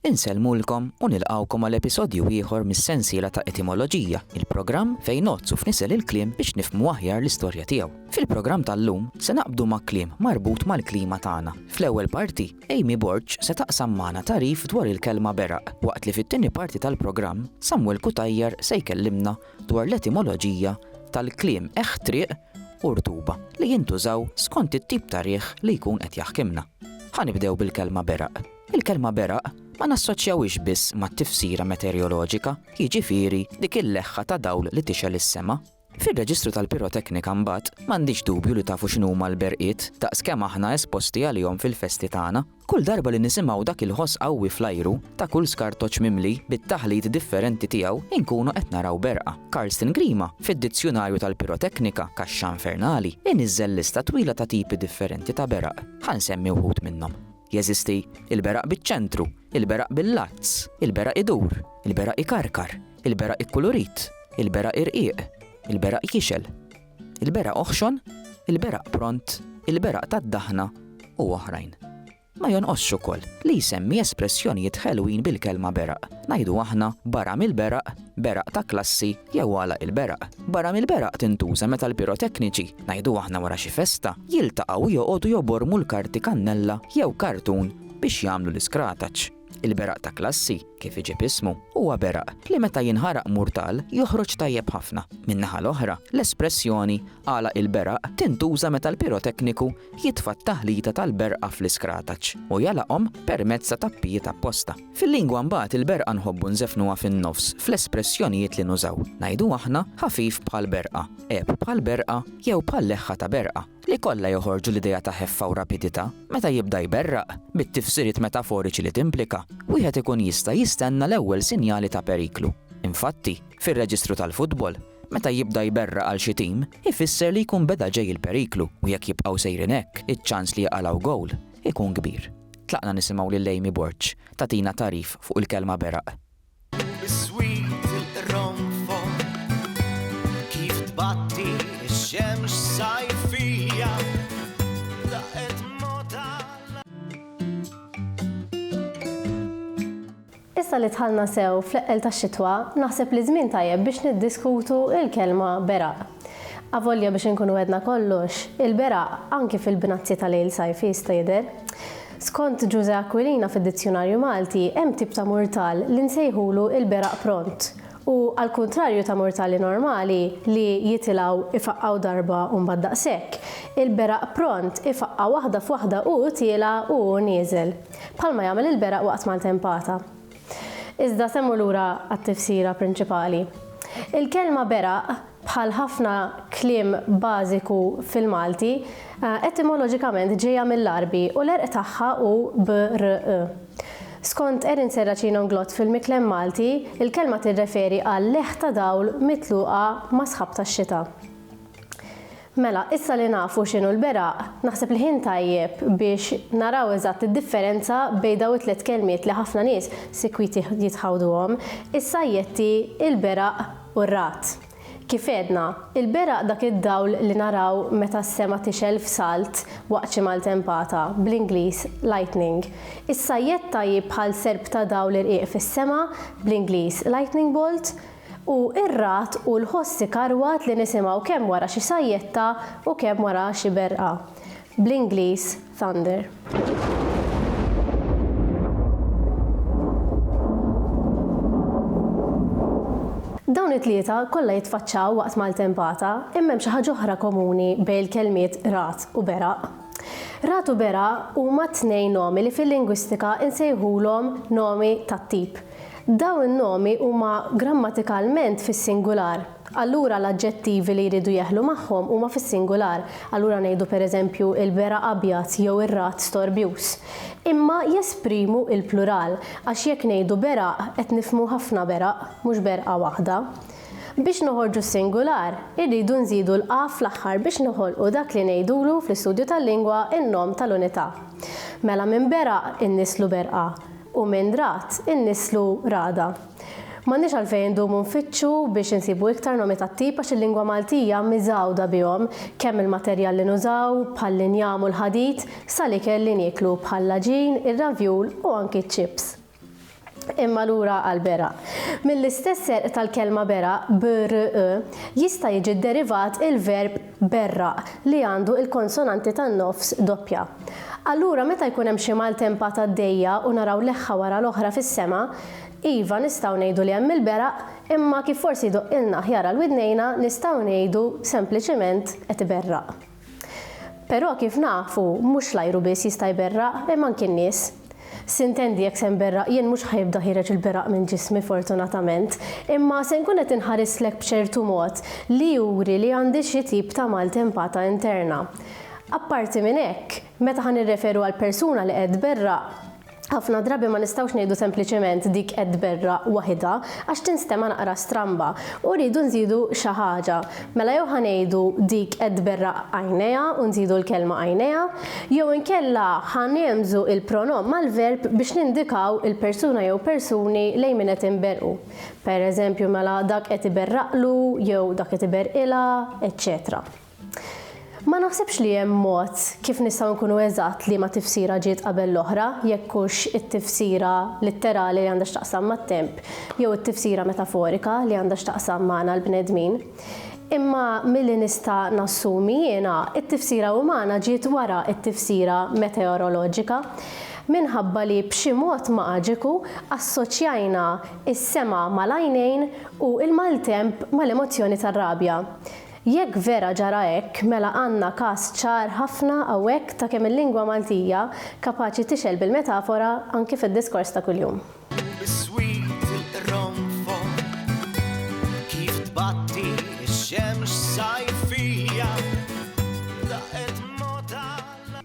Insellmulkom u nilqgħukom għal episodju ieħor mis-sensiela ta' Etimoloġija, il-programm fejn ngħoddsu f'nisel il-kliem biex nifhmu aħjar l-istorja tiegħu. Fil-programm tal-lum se naqbdu ma' kliem marbut mal-klima tagħna. Fl-ewwel parti, Amy Borg se taqsam magħna tagħrif dwar il-kelma beraq, waqt li fit-tieni parti tal-programm, Samuel Cutajar se jkellimna dwar l-etimoloġija tal-kliem eħħ triq u rtuba li jintużaw skont it-tip ta' riħ li jkun qed jaħkimna. Ħa nibdew bil-kelma beraq. Il-kelma beraq ma nassoċjawhiex biss mat-tifsira meteorjoloġika, jiġifieri dik il-leħħa ta' dawl li tixgħel is-sema. Fir-reġistru tal-piroteknika mbagħad m'għandix dubju li tafu x'inhuma l-berqiet daqs kemm aħna esposti għalihom fil-festi tagħna. Kull darba li nisimgħu dak il-ħoss qawwi fl-ajru ta' kull skartoċ mimli bit-taħlit differenti tiegħu inkunu qed naraw berqa. Karsten Grima, fid-Dizzjunarju tal-Piroteknika, Kaxxa Infernali, iniżżel lista twila ta' tipi differenti ta' beraq. Ħa nsemmi wħud minnhom. Jeżisti l-beraq biċ-ċentru, il-beraq bil-lazz, il-beraq idur, il-beraq ikarkar, il-beraq ikkulurit, il-beraq irqiq, il-beraq jixgħel. Il-beraq oħxon, il-beraq pront, il-beraq tad-daħna u oħrajn. Ma jonqosx ukoll li jsemmi espressjonijiet ħelwin bil-kelma beraq. Ngħidu aħna barra mill-beraq, beraq ta' klassi jew għalaq il-beraq. Barra mill-beraq tintuża meta l-pirotekniċi, ngħidu aħna wara xi festa, jiltaqgħu u joqogħdu jobormu l-karti kannella jew kartun biex jagħmlu l-iskrataċ. Il-beraq ta' klassi, kif iġib ismu, huwa beraq li meta jinħaraq murtal joħroġ tajjeb ħafna. Min-naħa l-oħra, l-espressjoni għalaq il-beraq tintuża meta l-pirotekniku jitfa' t-taħlita tal-berqa fl-iskrataċ u jagħlaqhom permezz ta' tappijiet apposta. Fil-lingwa mbagħad il-berqa nħobbu nżefnuha fin-nofs fl-espressjonijiet li nużaw. Ngħidu aħna ħafif bħal berqa, għeb bħal berqa jew bħal leħħa ta' berqa. li kollha joħorġu l-idea ta' ħeffa u rapidità, meta jibda jberraq, bit-tifsiriet metaforiċi li timplika, wieħed ikun jista' jistenna l-ewwel sinjali ta' periklu. Infatti, fir-reġistru tal-futbol, meta jibda jberraq għal xi tim, ifisser li jkun beda ġej il-periklu u jekk jibqgħu sejrin hekk, iċ-ċans li jqalgħu gowl ikun kbir. Tlaqna nisimgħu lil Amy Borg tagħtina tagħrif fuq il-kelma beraq. Issa li dħalna sew fl-eqqel tax-xitwa, naħseb li żmien tajjeb biex niddiskutu l-kelma beraq. Avolja biex inkunu għedna kollox, il-beraq anki fil-bnazzji ta' lejl sajfi jista' jidher. Skont Ġużè Aquilina fid-Dizzjunarju Malti hemm tip ta' murtal li nsejħulu l-beraq pront u, għall-kuntrarju ta' murtali normali li jitilgħu ifaqqgħu darba u mbagħad daqshekk, il-beraq pront ifaqqa' waħda f'waħda u tielgħa u hu nieżel, bħalma jagħmel il-beraq waqt maltempata. Iżda se mmur lura għat-tifsira prinċipali. Il-kelma beraq, bħal ħafna kliem bażiku fil-Malti, etimoloġikament ġejja mill-Għarbi u l-għerq tagħha hu b-r-q. Skont Erin Serracino Nglott fil-Miklem Malti, il-kelma tirreferi għal leħ ta' dawl mitluqa ma' sħab tax-xita. Mela, issa li nafu x'inhu l-beraq, naħseb li ħin tajjeb biex naraw eżatt id-differenza bejn dawn it-tliet kelmiet li ħafna nies sikwit jitħawduhom, is-sajjetti, il-beraq u r-ragħad. Kif għedna, il-beraq dak id-dawl li naraw meta s-sema tixgħel f'salt waqt xi maltempata, bl-Ingliż, lightning. Is-sajjetta hi bħal serp ta' dawl irqiq fis-sema, bl-Ingliż, lightning bolt. U r-ragħad hu l-ħoss ikarwad li nisimgħu kemm wara xi sajjetta u kemm wara xi berqa. Bl-Ingliż, thunder. Dawn it-tlieta kollha jitfaċċaw waqt maltempata, imma hemm xi ħaġa oħra komuni bejn il-kelmiet ragħad u beraq. Ragħad u beraq huma t-tnejn nomi li fil-lingwistika nsejħulhom nomi tat-tip. Dawn in-nomi huma grammatikalment fis-singular, allura l-aġġettivi li jridu jeħlu magħhom huma fis-singular, allura ngħidu pereżempju il-bera abjad jew ir-ragħad storbjuż. Imma jesprimu l-plural, għax jekk ngħidu beraq qed nifhmu ħafna beraq, mhux berqa waħda. Biex noħorġu s-singular, irridu nżidu l-a fl-aħħar biex noħolqu dak li ngħidulu fl-istudju tal-lingwa n-nom tal-unità. Mela minn beraq inniżlu berqa. u minn ragħad innisslu ragħda. M'għandniex għalfejn indumu nfittxu biex insibu iktar nomi tat-tip għax il-lingwa Maltija miżgħuda bihom, kemm mill-materjal li nużaw, bħall-injam u l-ħadid, sal-ikel li nieklu bħall-għaġin, ir-ravjul u anki ċ-ċips. Imma lura għall-beraq. Mill-istess serq tal-kelma beraq, BRE, jista' jiġi dderivat il-verb berraq li għandu il-konsonanti tan-nofs doppja. Allura meta jkun hemm xi maltempat għaddejja u naraw leħħa wara l-oħra fis-sema, iva nistgħu ngħidu li hemm il-beraq imma kif forsi jdoqqilna aħjar għal widnejna nistgħu ngħidu sempliċiment qed iberraq. Però kif nafu mhux l-ajru biss jista' jberraq imma anki n-nies. Sintendi jekk se nberraq jien mhux ħa jibda ħiereġ il-beraq minn ġismi fortunatament, imma se nkun qed inħarislek b'ċertu mod li juri li għandi xi tip ta' maltempata interna. Apparti minn hekk, meta ħa nirreferu għal persuna li qed tberraq, ħafna drabi ma nistgħux ngħidu sempliċement dik qed tberraq waħidha għax tinstema' naqra stramba u rridu nżidu xi ħaġa. Mela jew ħa ngħidu dik qed tberraq għajnejha u nżidu l-kelma għajnejha, jew inkella ħa ngħemżu il-pronom mal-verb biex nindikaw il-persuna jew persuni lejn min qed inberrqu. Per eżempju, mela dak qed iberraqlu jew dak qed iberrqilha, eċċetera. Ma naħsibx li hemm mod kif nistgħu nkunu eżatt liema tifsira ġiet qabel l-oħra, jekk hux it-tifsira litterali li għandha x'taqsam mat-temp, jew it-tifsira metaforika li għandha x'taqsam magħna l-bnedmin. Imma milli nista' nassumi jiena, it-tifsira umana ġiet wara t-tifsira meteoroloġika, minħabba li b'xi mod maġiku assoċjajna s-sema mal-għajnejn u l-maltemp mal-emozzjoni tar-rabja. Jekk vera ġara hekk, mela għandna każ ċar ħafna hawnhekk ta' kemm il-lingwa Maltija kapaċi tixgħel bil-metafora anki fid-diskors ta' kuljum. U bis-sweet il-qronfol kif tbatti x-xemx sajfija daqqet mgħotha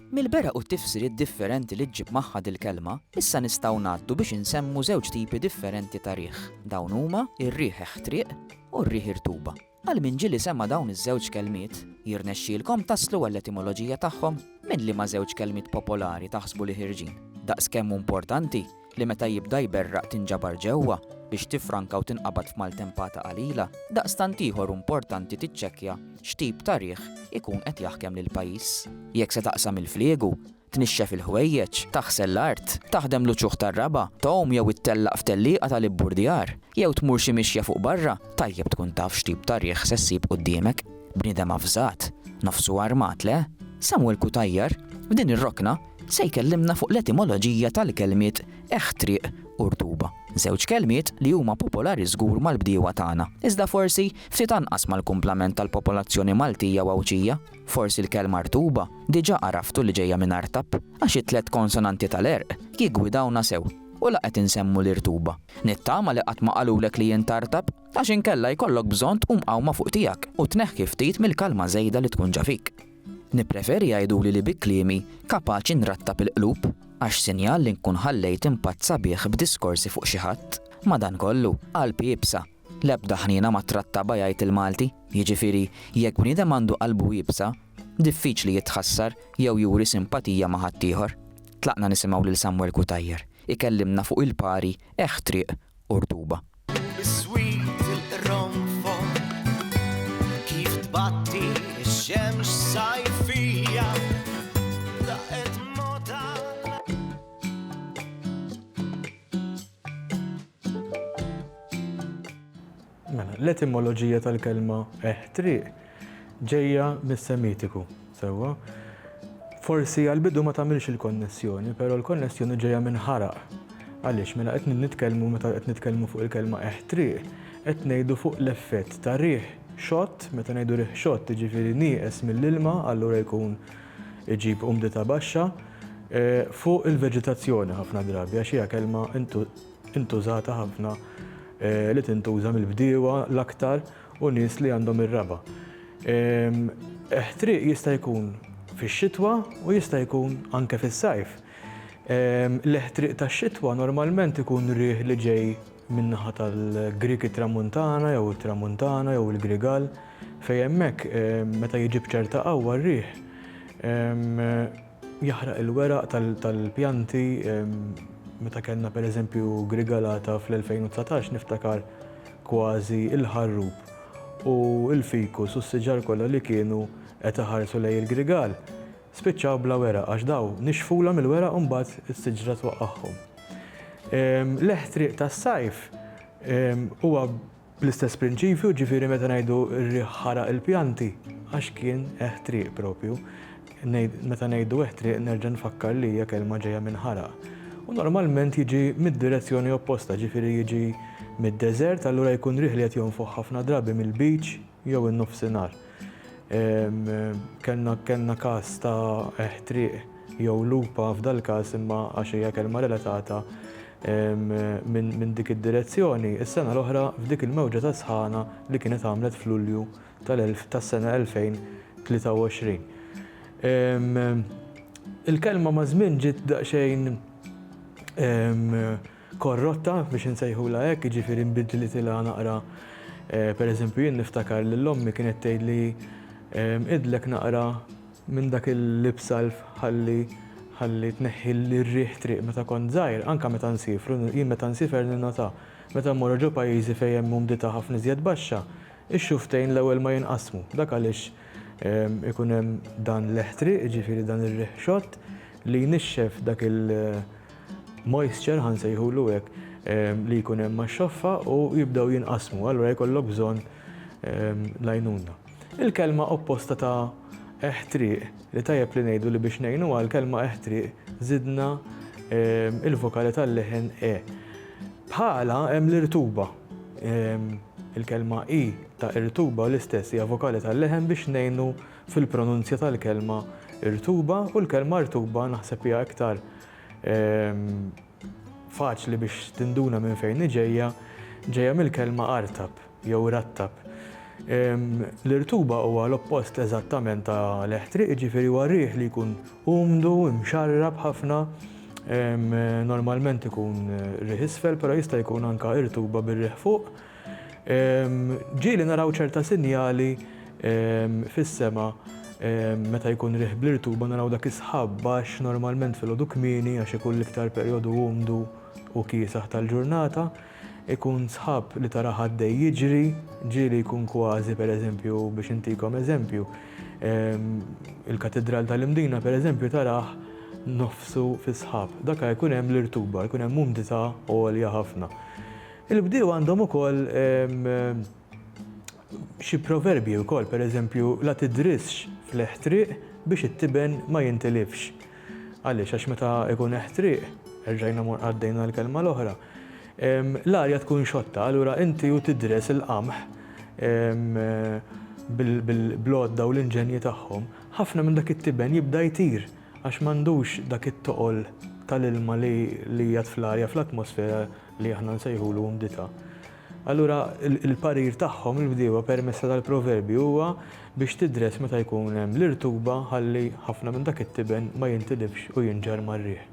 l. Mill-beraq u t-tifsiriet differenti li ġġib magħha dil-kelma, issa nistgħu ngħaddu biex insemmu żewġ tipi differenti ta' riħ. Dawn huma r-riħ eħtriq u r-riħ irtuba. Għal min ġieli sema' dawn iż-żewġ kelmiet, jirnexxielkom taslu għall-etimoloġija tagħhom? Minn liema żewġ kelmiet popolari taħsbu li ħirġin? Daqskemm hu importanti li meta jibda jberraq tinġabar ġewwa biex tiffranka u tinqabad f'maltempata qalila, daqstant ieħor hu importanti tiċċekkja x'tip ta' riħ ikun qed jaħkem lill-pajjiż. Jekk se taqsam il-fliegu, tnixxef il-ħwejjeġ, taħsel l-art, taħdem l-uċuħ tar-raba', tgħum jew ittellaq f'tellieqa tal-ibburdjar, jew tmur xi mixja fuq barra, tajjeb tkun taf x'tip ta' riħ se ssib quddiemek. Bniedem avżat, nofsu armat, le? Samuel Cutajar, f'din ir-rokna, se jkellimna fuq l-etimoloġija tal-kelmiet eħħ triq u rtuba, żewġ kelmiet li huma popolari żgur mal-bdiewa tagħna, iżda forsi ftit anqas mal-kumplament tal-popolazzjoni Maltija u Għawdxija. Forsi l-kelma rtuba diġà għaraftu li ġejja minn artab, għax it-tliet konsonanti tal-għerq jiggwidawna sew u la qed insemmu l-irtuba. Nittama li qatt ma qalulek li int artab, għax inkella jkollok bżonn tqum qawma fuq tiegħek u tneħħi ftit mill-kalma żejda li tkun ġa fik. Nippreferi jgħiduli li bi kliemi kapaċi nrattab il-qlub, għax sinjal li nkun ħallejt impatt sabiħ b'diskorsi fuq xi ħadd. Madankollu, qalb iebsa L-ebda ħniena ma ttrattabha jgħid il-Malti. Jiġifieri, jekk bniedem għandu qalbu iebsa, diffiċli jitħassar jew juri simpatija ma' ħaddieħor. Tlaqna nisimgħu lil Samuel Cutajar ikellimna fuq il-pari Eħħ Triq u Rtuba. Biswit il-qronfol kif tbatti x-xemx sajfija daqqet mod għal Mela, l-etimoloġija tal-kelma eħtriq ġejja mis-Semitiku, sewwa. Forsi għal-bidu ma tagħmilx il-konnessjoni, però l-konnessjoni ġejja minn ħaraq. Għaliex mela qed nitkellmu meta qed nitkellmu fuq il-kelma eħtriq, qed ngħidu fuq l-effett ta' riħ xott, meta ngħidu riħ xott jiġifieri nieqes mill-ilma, allura jkun iġib umdità baxxa fuq il-veġitazzjoni ħafna drabi għax hija kelma intużata ħafna li tintuża mill-bdiewa l-aktar u nies li għandhom ir-raba'. Ħtriq jista' jkun fix-xitwa u jista' jkun anke fis-sajf. L-ħtriq tax-xitwa normalment ikun riħ li ġej min-naħa tal-Grieg it-Tramuntana jew it-Tramuntana jew il-Grigal, fejn hemmhekk meta jiġi b'ċerta qawwa r-riħ jaħraq il-weraq tal-pjanti, meta kellna pereżempju grigalata fl-2019 niftakar kważi l-ħarrub u l-fikus u s-siġar kollha li kienu qed iħarsu lejn il-grigal. Spiċċaw bla weraq għax daw nixfulha mill-weraq u mbagħad is-siġra twaqqagħhom. L-eħtriq tas-sajf huwa bl-istess prinċipju, ġifieri meta ngħidu r-riħ ħaraq il-pjanti għax kien eħtriq propju. Meta ngħidu eħtriq nerġa' nfakkar li hija kelma ġejja minn ħaraq. U normalment jiġi mid-direzzjoni opposta, ġifieri jiġi mid-deżert, allura jkun riħ li qed jonfoħ ħafna drabi mill-beach, jew in-nofsinhar. Kellna kellna każ ta' ħtriq jew lupa f'dal-każ imma għax hija kelma relatata minn minn dik id-direzzjoni, is-sena l-oħra f'dik il-mewġa ta' sħana li kienet għamlet f'Lulju tal-elf tas-sena 2023. Il-kelma maż-żmien ġiet daqsxejn korrotta, biex insejħulha hekk, jiġifieri nbidlitilha naqra. Pereżempju, jien niftakar lil ommi kienet tgħidli, Nbiddlek naqra minn dak il-lipsalv ħalli ħalli tneħħi r-riħ triq meta kont żgħir, anke meta nsiefru, jien meta nsifer ninnota, meta mmorru ġo pajjiżi fejn hemm umdità ħafna iżjed baxxa, ix-xufftejn l-ewwel ma jinqasmu. Dak għaliex ikun hemm dan l-eħ triq, jiġifieri dan ir-riħ xott, li jnixxef dak il, moisture ħa nsejħulu hekk, li jkun hemm max-xoffa u jibdew jinqasmu, allura jkollok bżonn l-għajnuna. Il-kelma opposta ta' eħtriq, li tajjeb li ngħidu li biex ngħinu għall-kelma eħtriq żidna l-vokali tal-leħen e. Bħalha hemm l-irtuba. Il-kelma i ta' irtuba l-istess hija vokali tal-leħen biex ngħinu fil-pronunzja tal-kelma irtuba u l-kelma rtuba naħseb hija iktar Faċli biex tinduna minn fejn hi ġejja, ġejja mill-kelma artab jew rattab. L-irtuba huwa l-oppost eżattament ta' l-eħtriq, jiġifieri huwa riħ li jkun umdu, imxarrab ħafna, normalment ikun riħ isfel, però jista' jkun anke irtuba bir-riħ fuq. Ġieli naraw ċerta sinjali fis-sema meta jkun riħ bl-irtuba naraw dak is-sħab baxx normalment filgħodu kmieni għax ikun l-iktar perjodu umdu u kiesaħ tal-ġurnata. Ikun sħab li tarah għaddej jiġri, ġieli jkun kważi pereżempju biex intikom eżempju, il-Katidral tal-Imdina pereżempju tarah nofsu fis-sħab. Dakha jkun hemm l-irtuba, jkun hemm umdità għolja ħafna. Il-bdiewa għandhom ukoll xi proverbji wkoll, pereżempju, la tidrisx fl-eħtriq biex it-tiben ma jintilifx. Għaliex? Għax meta jkun eħtriq, erġajna mor għaddejna l-kelma l-oħra, l-arja tkun xotta, allura inti u tidres il-qamħ bl-għodda u l-inġenji tagħhom, ħafna minn dak it-tiben jibda jtir għax m'għandux dak it-toqol tal-ilma li jgħadd fl-arja, fl-atmosfera, li aħna nsejħulu umdità, allura l-parir tagħhom, il-bdiewa, permessa tal-proverbji huwa biex tidres meta jkun hemm l-irtuba ħalli ħafna minn dak it-tiben ma jintilifx u jinġarr mar-riħ.